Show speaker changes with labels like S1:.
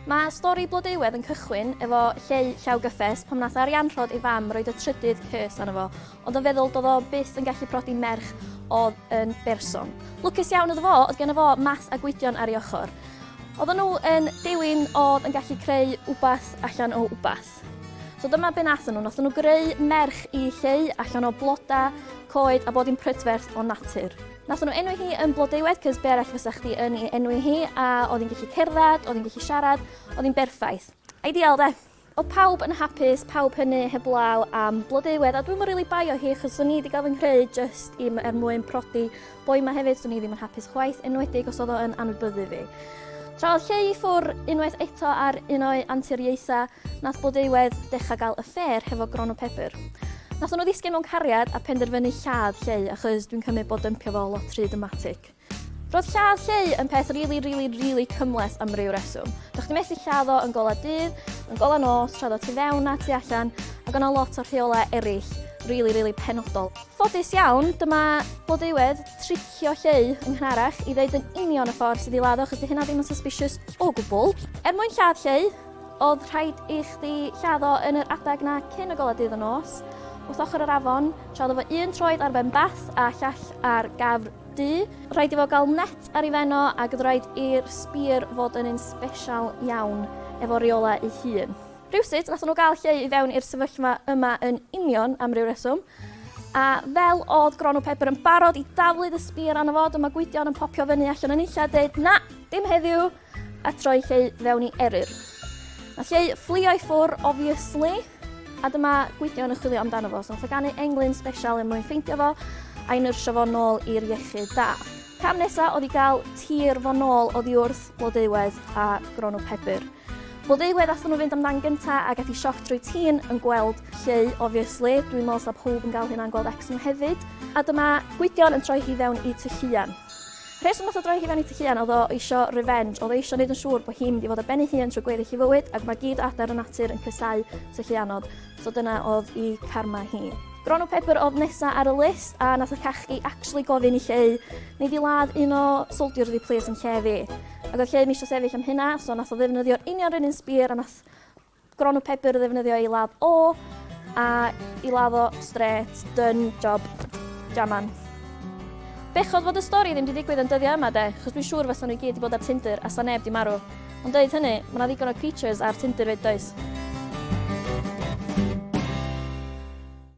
S1: Mae stori Blodeuwedd yn cychwyn efo Lleu Llaw Gyffes pam nath Arianrhod ei fam roid y trydydd curse arno fo, ond yn feddwl do'dd o byth yn gallu prodi merch odd yn berson. Lwcus iawn iddo fo odd genno fo Math a Gwydion ar ei ochor. Oddan nhw yn dewin odd yn gallu creu wbath allan o wbath. So dyma be nathon nhw, nathon nhw greu merch i Lleu allan o bloda, coed a bob dim prydferth o natur. Nathon nhw enwi hi yn Blodeuwedd cos be' arall fysa chdi yn ei enwi hi a oedd hi'n gallu cerdded, oedd hi'n gallu siarad, oedd hi'n berffaith. Ideal de? Oedd pawb yn hapus, pawb hynny heblaw am Blodeuwedd a dwi'm yn rili baio hi achos swn i 'di gael fy nghreu jyst i m- er mwyn prodi boi 'ma hefyd, swn i ddim yn hapus chwaith enwedig os oedd o yn anwybyddu fi. Tra oedd Lleu i ffwr unwaith eto ar un o'i anturiaetha, nath Blodeuwedd decha gal affair hefo Gronw Pebr. Nathon nhw ddisgyn mewn cariad a penderfynu lladd Lleu achos dwi'n cymyd bod dympio fo lot rhy dramatic. Roedd lladd Lleu yn peth rili rili rili cymhleth am ryw reswm. Do'ch chdi methu lladd o yn gola dydd, yn gola nos, tra oedd o tu fewn a tu allan, ac o' 'na lot o rheolau eraill rili rili penodol. Ffodus iawn, dyma Blodeuwedd, tricio lleu yng nghynharach i ddeud yn union y ffordd sydd i ladd o achos 'di hynna ddim yn suspicious o gwbl. Er mwyn lladd lleu, oedd rhaid i chdi lladd o yn yr adeg 'na cyn y golau dydd y nos, wrth ochr yr afon, tra oedd efo un troed ar ben bath a llall ar gafr du. Rhaid i fo gael net ar ei ben o ac oedd rhaid i'r spear fod yn un sbesial iawn efo reolau ei hun. Rhywsut, wnaethon nhw gael Lleu i fewn i'r sefyllfa yma yn union am ryw reswm, a fel oedd Gronw Pedr yn barod i daflu dy sbîr arno fo, dyma Gwydion yn popio fyny allan o nunlla a deud, Na, dim heddiw! a troi Lleu fewn i eryr. Mae Lleu fflio i ffwr, obviously, a dyma Gwydion yn chwilio amdano fo, so nath o ganu englyn sbesial er mwyn ffeindio fo, a'i nyrsio fo nôl i'r iechyd da. Cam nesa oedd i gael tir fo nôl oddi wrth Blodeuwedd a Gronw Pebr. Blodeuwedd athon nhw fynd amdan gynta a gath i sioc trwy tîn yn gweld Lleu obviously, dwi'n meddwl sa powb yn gael hynna yn gweld Wrecsam hefyd. A dyma Gwydion yn troi hi fewn i Ty Lluan. Rheswm nath o droi hi fewn i Ty Lluan oedd o eisio revenge, oedd o eisio neud yn siŵr bod hi'n mynd i fod ar ben ei hun trwy gweddill ei fywyd ac mae gyd o adar y natur yn casáu Ty Lluanod. So dyna oedd i Karma hi. Gronw Pepper oedd nesa ar y list a nath y cachgi actually gofyn i Lleu, neu fi ladd un o soldiers fi plis yn lle fi. Ac oedd Lleu misio sefyll am hynna, so nath o ddefnyddio'r union run un spear a nath Gronw Pepper ddefnyddio ei ladd o, a i ladd o straight, done, job, jaman. Bechodd fod y stori ddim di digwydd yn dyddiau yma de, chos dwi'n siŵr fysa nhw i gyd di bod ar Tinder a sa neb di marw. Ond deud hynny, mae 'na ddigon o creatures ar Tinder 'fyd does?